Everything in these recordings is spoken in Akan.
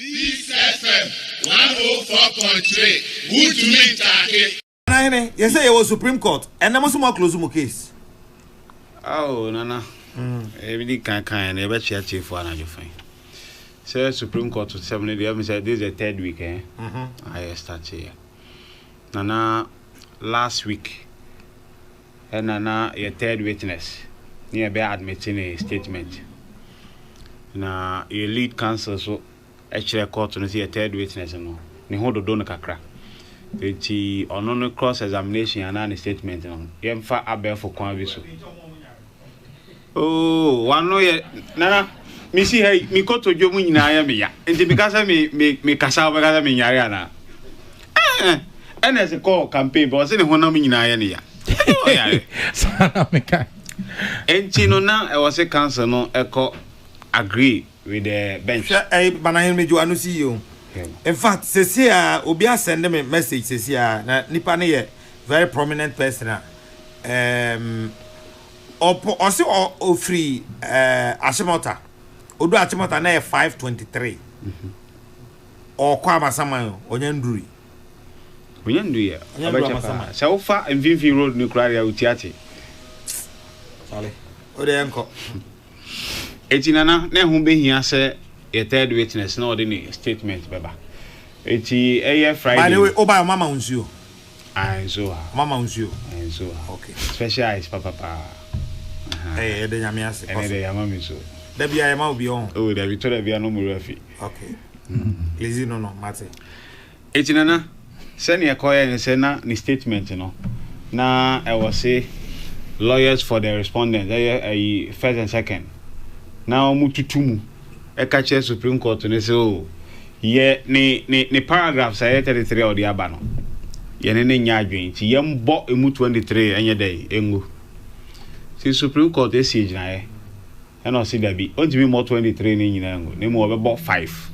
Peace FM one oh four point three wuntumi ntaake. Nana hene yɛsɛ yɛwɔ supreme court ɛnɛ mo nso mo aclose mo case. Ao nana ɛbi di kan kan yɛn yɛbɛ kyia tiefo anadwo fɛn sɛ supreme court sɛm no deɛ ɛmu sɛ this is the third week ɛn ayɛ start yɛ nana last week Ɛna na yɛ third witness ne yɛ bɛ admit ne statement na yɛ lead counsel so kyerɛ court no sɛ yɛ third witness no ne ho dodo no kakra nti ɔno no cross examination anaa ne statement no yɛnfa abɛɛfo kwan bi so. Oo, w'ano yɛ Nana, mesi ha yi, me kotodwe mu nyinaa yɛ me ya. Nti meka sɛ me me mekasa wobɛka sɛ menyare anaa? Eh, eh. ɛna ɛsɛ kɔɔ campaign bɛ ɔse ne honam nyinaa yɛ ne ya. Saa na meka. Nti no na ɛwɔ se council no ɛkɔ agree with the bench. Hwɛ ɛyi eh, Banahen Mejo ano si yie o. In fact, sɛsi a obi asɛnde me message sɛsi a na nipa no yɛ very prominent person a um, ɔpɔ ɔsi ɔ ofiri ɛɛ asemɔta odu asemɔta na yɛ five twenty three ɔkɔ amasaman ɔnya nduri. ɔnya nduri a ɔbɛkyɛ paa sɛ wofa mfinfin road no kura deɛ otia te. sale ɔde yɛn kɔ. eti nana na ɛho behia sɛ yɛ third witness na ɔde ne statement bɛba eti ɛyɛ friday. by the way ɔba yɛ ɔma ma nsuo. Ae nso a. Ɔma ma wo nsuo. Ae nso a. Ok. Special ice papa paa. Ahaa. Ɛyɛ yɛda Nyame ase. Kɔ so. Ɛnɛ dɛ yama me so. Da biaa yɛma wo bi ɔho. Oh dabi tɔ da biaa no mowura fi. Ok. Lizzy no no mate. Eti Nana, sɛnea ɛkɔyɛɛ ne sɛ na ne statement no na ɛwɔ se lawyers for the respondents ɛyɛ ayi first and second na wɔtutu mu. ɛka kyerɛ Supreme Court no sɛ, oh, yɛ ne, ne, ne paragraphs a ɛyɛ 33 a ɔde aba no, yɛne no nyɛ adwene, nti yɛmbɔ emu 23 ɛnyɛ dɛn, ɛngu. Nti Supreme Court asie gyinaeɛ, ɛna ɔse dabi, ɔntumi mmɔ 23 no nyinaa ngu, na mmom ɔbɛbɔ 5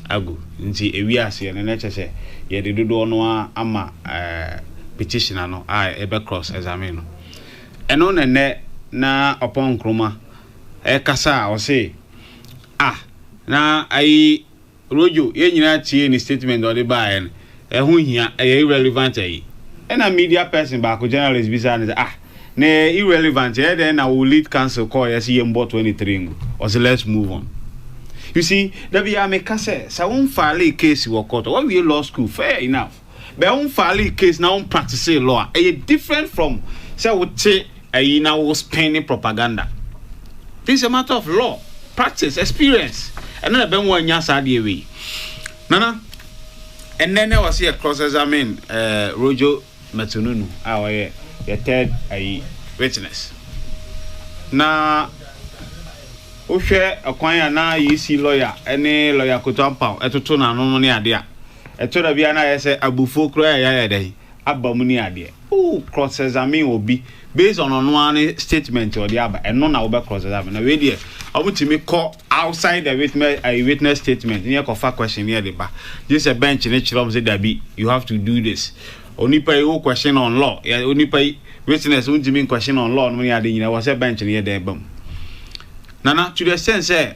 agu, nti ɛwie aseɛ no, na ɛkyɛ sɛ yɛde dodoɔ no ara ama ɛɛ petitioner no a ɛbɛ cross examine no. Ɛno na ɛnɛ na Oppong Nkrumah ɛkasa a ɔse ah na ayi Rojo yɛn nyinaa tiee ne statement a ɔde baeɛ no ɛho nhia ɛyɛ irrelevant ayi ɛna media person baako journalist bisaa no sɛ ah na ɛyɛ irrelevant ɛyɛ dɛn na wo lead counsel kɔeɛ se yɛnbɔ 23 ngu ɔse let's move on you see da biara meka sɛ sɛ wo nfaalee case wɔ court a woawie law school fair enough. bɛɛ wo filee case na wo practicee law a ɛyɛ different from sɛ wo te ayi na wo spinne propaganda this is a matter of law practice experience ɛno na ɛbɛn wo anya saa adeɛ wei nana ɛnɛ na ɛwɔ sɛ yɛ cross examine ɛɛ eh, Rojo Metununu a ɔyɛ yɛ third ayi witness na wohwɛ ɛkwan a na yɛsi lawyer ɛne lawyer Koto Ampaw ɛtoto n'ano ne ade a Ɛtɔ da bi a na ayɛ sɛ abufuo koraa ɛyɛ ayɛ dɛn aba mu ne adeɛ. Wo cross examine obi based on ɔno ara ne statement a ɔde aba, ɛno na wobɛ cross examine. Na wei deɛ wɔn tumi kɔ outside the witness ayi witness statement ne ɛkɔ fa question ne ɛde ba. Gye sɛ bench ne kyerɛ wɔn sɛ dabi you have to do this. Onipa yi wo question on law, yɛ onipa yi witness wɔn tumi question on law nom ne ade nyinaa ɛwɔ sɛ bench no yɛ dɛn ba mu. Nana to the extent sɛ.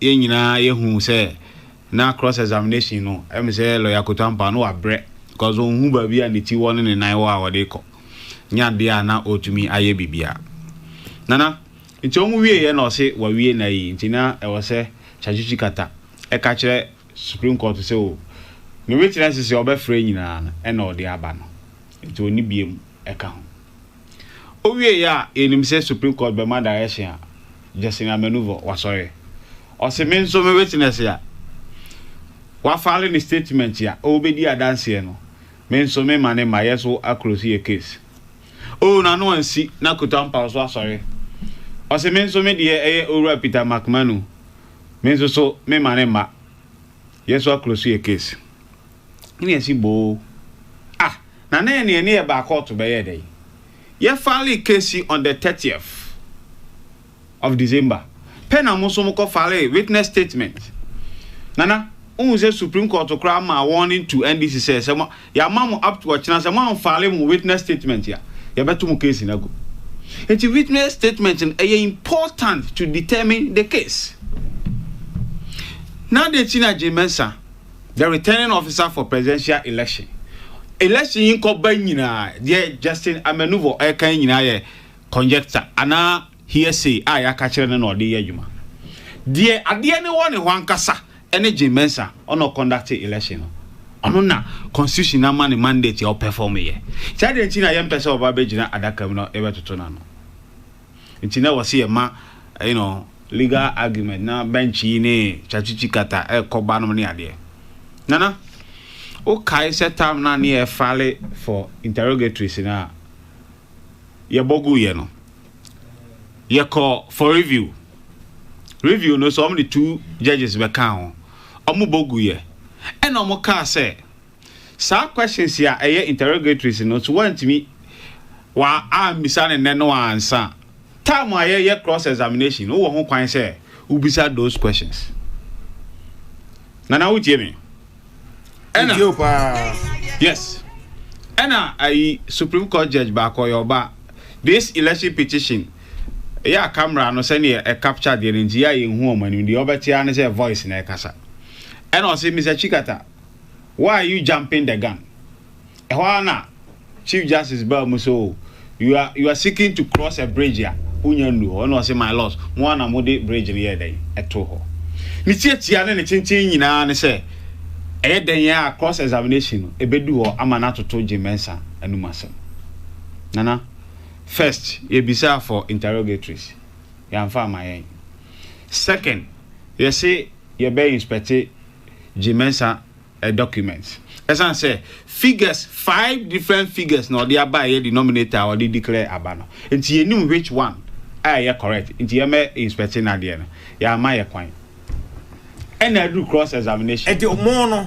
Yɛn nyinaa yɛhu sɛ na cross examination no ɛmi sɛ lawyer koto ampa no wabrɛ because onhu baabi a ne ti wɔ ne ne nan wɔ a ɔde kɔ nyɛ adeɛ a na ɔtumi ayɛ bibia Nana nti wɔn wie yɛ na ɔse wawie na ayi nti na ɛwɔ sɛ Tshatshichi kata ɛka kyerɛ supreme court sɛ o ne witnesses a ɔbɛfrɛ nyinaa no ɛna ɔde aba no nti ɔni biem ɛka ho. Owiei a yɛnim sɛ Supreme Court bɛma direction a Justin Amenuvor wasɔre. Ɔse me nso me witness a wafale ne statement a ɔrebɛdi adanseɛ no me nso me ma ne ma yɛ so a close yɛ case. Oh n'ano ansi na Kuta Ampaw so asɔre. Ɔse me nso me deɛ ɛyɛ Owura Peter Makmanu me nso so me ma ne ma. Yɛn nso akro so yɛ case. Ɛna ɛsi boo. Ah na na ɛne ɛne yɛ baa kɔɔto bɛyɛɛ dɛn? Yɛ file case on the thirtieth of December pɛ na mo nso mo kɔ file witness statement. Nana, wohu sɛ Supreme Court koraa maa warning to NDC sɛ sɛ mo. Yɛama mo up to ɔkyena, sɛ moanfile mo witness statement a, yɛbɛto mo case no agu. Nti witness statement no ɛyɛ important to determine the case. Na deɛ akyi no Agyen Mensah, the returning officer for presidential election, election yi nkɔba nyinaa, deɛ Justin Amenuvo ɛreka yi nyinaa yɛ conjecture anaa hearsay a yɛaka kyerɛ no na ɔde yɛ adwuma. Deɛ adeɛ no wɔ ne hɔ ankasa Ɛne Jim Mensah ɔna ɔkɔndakte election no. Ɔno na constitution no ama no mandate a ɔpɛfɔm yɛ. Nti adɛn nti na yɛmpɛ sɛ ɔba bɛgyina adaka mu na yɛbɛtoto no ano? Nti na wɔse yɛma you know, legal argument na bench yi ne Chatwitwi Kata ɛkɔ ba nom ne adeɛ. Nana, wokae sɛ tam no a ne yɛfale for interrogatories no a yɛbɔ guiɛ no yɛkɔ for review review no so ɔmo de two judges bɛkaa ho ɔmo bɔ guiɛ ɛna ɔmo kaa sɛ saa questions a ɛyɛ interrogatories no so wantumi wa ambisa ne nɛ no ansa time a yɛyɛ cross examination wowɔ ho kwan sɛ wobisa those questions nana wotie me ɛna o paa yes ɛna ayi supreme court judge baako ɔyɛ ɔba this election petition ɛyɛ a camera no sɛnea ɛ capture deɛ no nti yɛ a yɛn hu wɔn anim deɛ ɔbɛte ara ne sɛ voice na ɛkasa ɛna ɔsɛ mr chikata why are you jumping the gun. Ɛhɔ ara na Chief Justice baa mu sɛ, Oh, you are, you are seeking to cross a bridge a wonnya nnuu hɔ. Ɛnna ɔse, My lords, mo ara na mode bridge no yɛɛ dɛn? Ɛtoo hɔ. Ne tiatia ne ne kyenkyen nyinaa ne sɛ, ɛyɛ dɛn yɛ a cross examination no ebedu hɔ ama no atoto Jim Mensah anom asɛm? Nana, first, yebisaa for interrogatories, yɛamfa amma yɛn. Second, yɛse yɛbɛ inspect Jim Mensah a document ɛsan sɛ figures five different figures na ɔde aba ɛyɛ denominator a ɔde declare aba no nti yɛ nim which one a ɛyɛ correct nti yɛ mɛ inspecting adeɛ no yɛ ama yɛ kwan ɛna aduru cross examination. Ɛti ɔmo no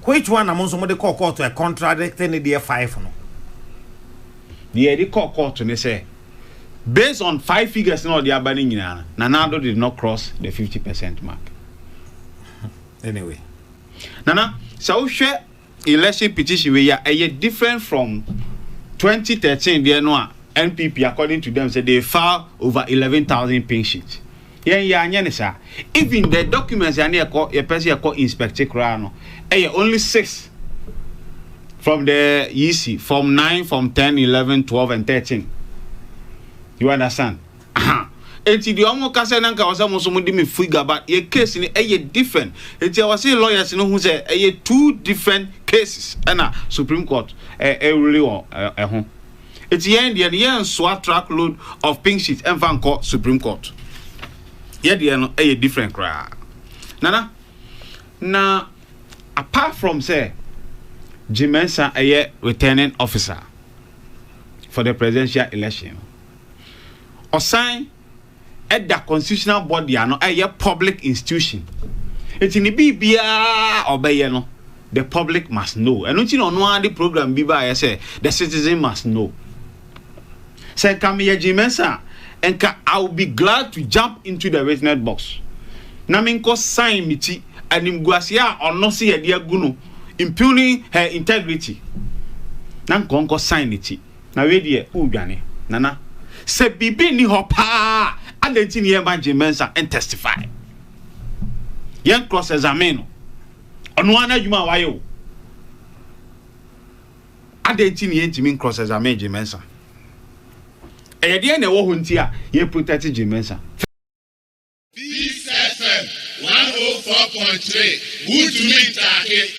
which one na mo nso mo de kɔɔ court ɛ contradicting ne deɛ five no. Deɛ yɛ de kɔɔ court ne sɛ based on five figures na ɔde aba ne nyinaa no Nana Addo did not cross the fifty percent mark. Anyway. Nana sɛ wohwɛ election petition wei a ɛyɛ different from twenty thirteen deɛ no a NPP according to them sɛ they file over eleven thousand patients. Yɛn yɛ anyɛ ne saa. Even the documents a ne yɛkɔ yɛpɛ sɛ yɛkɔ inspect koraa no ɛyɛ only six from the yisi form nine form ten eleven twelve and thirteen. You understand? Ahaa enti deɛ ɔmo ka sɛ na nka ɛwɔ sɛ mo nso mo de me fui gaba yɛ case no ɛyɛ different enti ɛwɔ se lawyers no hu sɛ ɛyɛ two different cases ɛna supreme court ɛreli wɔ ɛho enti yɛn deɛ no yɛn nsoa truck load of pink sheet ɛnfa nkɔ supreme court yɛ deɛ no ɛyɛ different koraa nana na apart from sɛ Jimensa ɛyɛ returning officer for the presidential election. Ɔsan da constitutional body ano, ɛyɛ public institution. Nti ne biribiara a ɔbɛyɛ no, the public must know. Ɛno nti na ɔno ara de program bi baeɛ sɛ, the citizen must know. Sɛ nka meyɛ Gye Mensah a, nka I will be glad to jump into the witness box na menkɔ sign me ti animguaseɛ a ɔno se yɛde agu no, impugning her integrity, na nka ɔnkɔ sign ne ti. Na wei deɛ wo dwane nana. Sɛ biribi nni hɔ paa a, adɛn nti na yɛmma Jim Mensah ntestify? Yɛn cross examine no. Ɔno ara n'adwuma a wayɛ o. Adɛn nti na yɛntumi ncross examine Jim Mensah? Ɛyɛ deɛ na ɛwɔ hɔ nti a yɛ protect Jim Mensah. Peace FM one oh four point three, wuntumi ntaake.